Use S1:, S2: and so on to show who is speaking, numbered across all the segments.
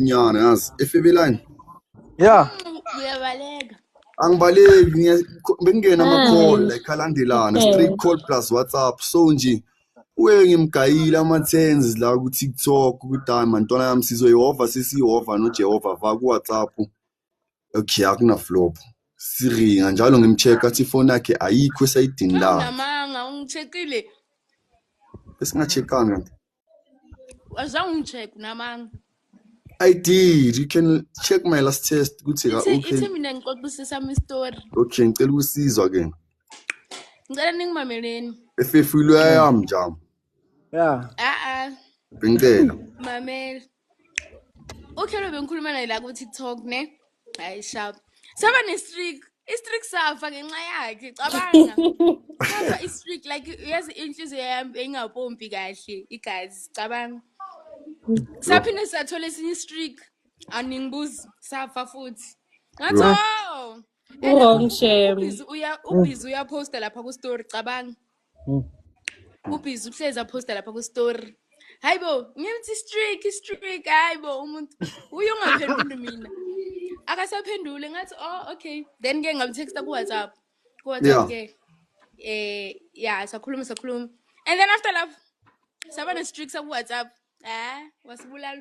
S1: nyana yazi efebelani ya
S2: uyabaleka
S3: angibaleki
S1: ngiya- bekungena ama-call like alandelana straight call plus whatsapp so nje uye ngimgayile ama-tens la ku-tiktok ukuthi hayi mantwana yami sizoyehova sesiyehova nojehova va ku-whatsapp okay akunaflop siringa njalo ngimcheck athi ifoni yakhe ayikho esayidini la namanga ungicheckile
S3: besingacheckanga wazange ungicheck namanga I
S1: did. You can check my last test. Ukuthi ka okay. Ithi mina ngixoxisisa
S3: mi story. Okay, ngicela ukusizwa
S1: ke. Ngicela
S3: ningimameleni. Efefilwe
S1: yami njalo. ya
S2: a-a ngicela
S1: mamela
S3: uhlelo bengikhuluma naye la ku-tiktok ne hayi sharp saba ne-streak i-streak safa ngenxa yakhe cabanga safa i-streak like yazi inhliziyo yami beyingapompi kahle igazi cabanga saphinde sathola esinye i-streak aningibuzi safa futhi ngathi Yho. o Wrong,
S4: Shem. ubhizi
S3: uyaphosta lapha ku-story cabanga Hmm. Ubhizi uhlezi aphosta lapha ku-story. Hayi bo, ngimthi i-streak, i-streak, hayi bo, umuntu uye ungaphenduli mina. Akasaphendule ngathi, oh okay. Then ke ngamtexta ku-WhatsApp. Ku-WhatsApp ke. Eh, yeah, sakhuluma sakhuluma. And then after love, saba ne-streak saku-WhatsApp. Eh, wasibulala.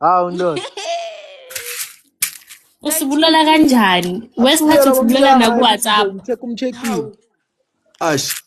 S1: Hawu
S2: ndoda.
S4: usibulala kanjani wesikhathi usibulala nakuwhatsapp Check
S1: umcheckile. Ash,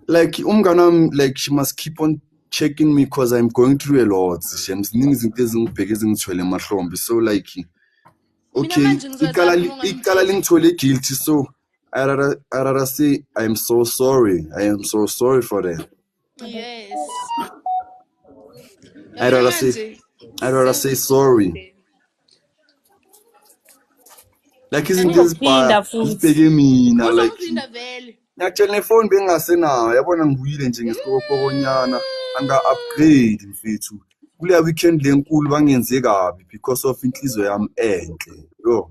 S1: like umngane wami like she must keep on checking me because I'm going through a lot. Shem, ziningi izinto ezingibheke ezingithwele emahlombe. So like okay, manje ngizozama icala li- uma icala lingithwele guilty so I rather I rather say I'm so sorry. I am so sorry for that. Yes. I rather say, I rather say sorry. Like isn't this part? Ngibheke mina like. Ngiyatshela nefoni bengingasenayo yabona ngibuyile nje ngesikokokonyana anga upgrade mfethu. Kuleya weekend lenkulu bangenze kabi because of inhliziyo yami enhle. Yo.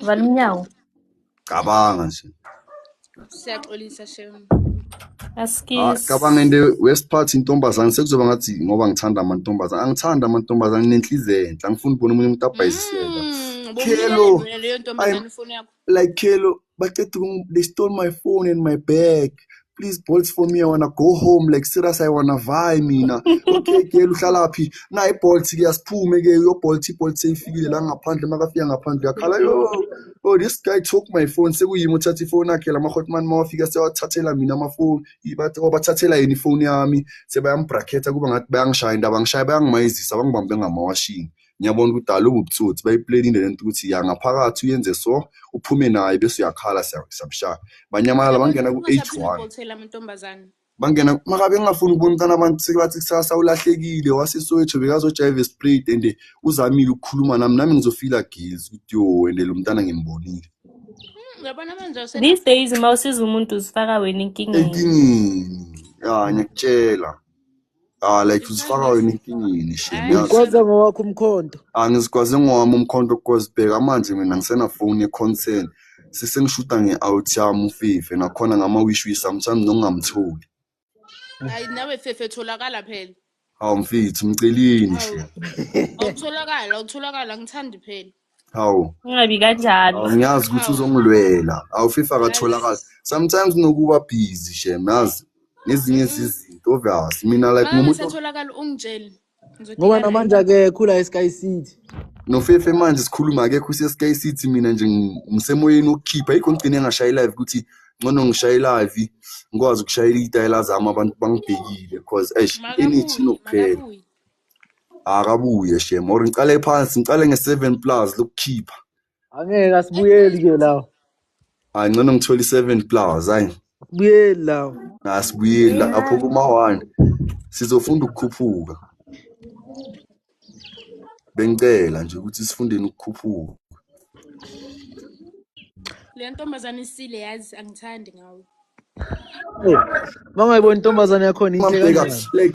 S4: Vala umnyango.
S1: Cabanga nje. Siyaxolisa
S3: shem. Ah,
S4: Askies. cabanga into
S1: worst part intombazane sekuzoba ngathi ngoba ngithanda amantombazane angithanda amantombazane nginenhliziyo enhle angifuni ukubona omunye umuntu abhayisiseka Mm, Khelo. ubumnyama wena leyo ntombazane
S3: ifoni yakho. like khelo
S1: baqeda ukum- they stole my phone and my bag please bolts for me i wanna go home like serious i wanna vie mina okay girl uhlala phi na ibolt ke asiphume ke yo bolt ibolt seyifikile la ngaphandle makafika ngaphandle yakhala yo oh this guy took my phone sekuyimi uthatha ifoni yakhe lama hotman mawafika sewathathela mina amafoni ibathi obathathela oh, yini ifoni yami sebayambracketa kuba ngathi bayangishaya indaba ngishaya bayangimayizisa bangibambe ngamawashini ngiyabona ukuthi dala ububutsotsi bayiplanile lento ukuthi ya ngaphakathi uyenze so uphume naye bese uyakhala siyamshaya banyamalala bangena ku-h1 bangena makabe ngingafuni ukubona umntana abantu sebathi kusasa ulahlekile wasesowetho bekazojayiva esprayed and uzamile ukukhuluma nami nami ngizofila gills ukuthi yo and lo mntana ngimbonile hmm, these
S3: days uma usiza
S4: umuntu uzifaka wena enkingeni enkingeni ya
S1: ngiyakutshela Ah like uzifaka wena inkingeni shame yazi. Ngikwaza ngowakho
S2: umkhonto. Angizikwazi ngowami
S1: umkhonto cause bheka manje mina ngisena phone ye-concern. Sesengishuta nge-out yami uFife nakhona ngama-wish wish sometimes nokungamtholi. Hayi
S3: nawe fefe tholakala phela. Hawu mfethu
S1: mceleni shame. Awutholakala, awutholakala
S3: ngithandi phela. hawu ungabi
S1: kanjalo
S4: hawu ngiyazi ukuthi
S1: uzongilwela hawu fifa akatholakali sometimes kunokuba busy shem yazi ngezinye zizinto obvious mina like Mama ngumuntu satholakala
S3: ungitshele. ngoba Ngizodibana
S2: namanje naye. akekho la esky city nofefe
S1: manje sikhuluma akekho usesky city mina nje ngi- ngisemoyeni wokukhipha yikho ngigcine ngashaye live ukuthi ngcono ngishaye live ngikwazi ukushayela iy'tayela zami abantu bangibhekile cause eish energy Makabuye, inokuphela makabuye. akabuye shem or ngicale phansi ngicale nge-seven plus lokukhipha angeke
S2: asibuyeli ke lawo hayi ngcono
S1: ngithole i-seven plus hayi asibuyeli lawo
S2: asibuyeli lapho
S1: kuma-one sizofunda ukukhuphuka bengicela nje ukuthi sifundeni ukukhuphuka
S3: le ntombazane isile yazi angithandi ngawe
S2: uma
S3: ungayiboni
S2: intombazane yakhona
S3: inhle
S2: kanjani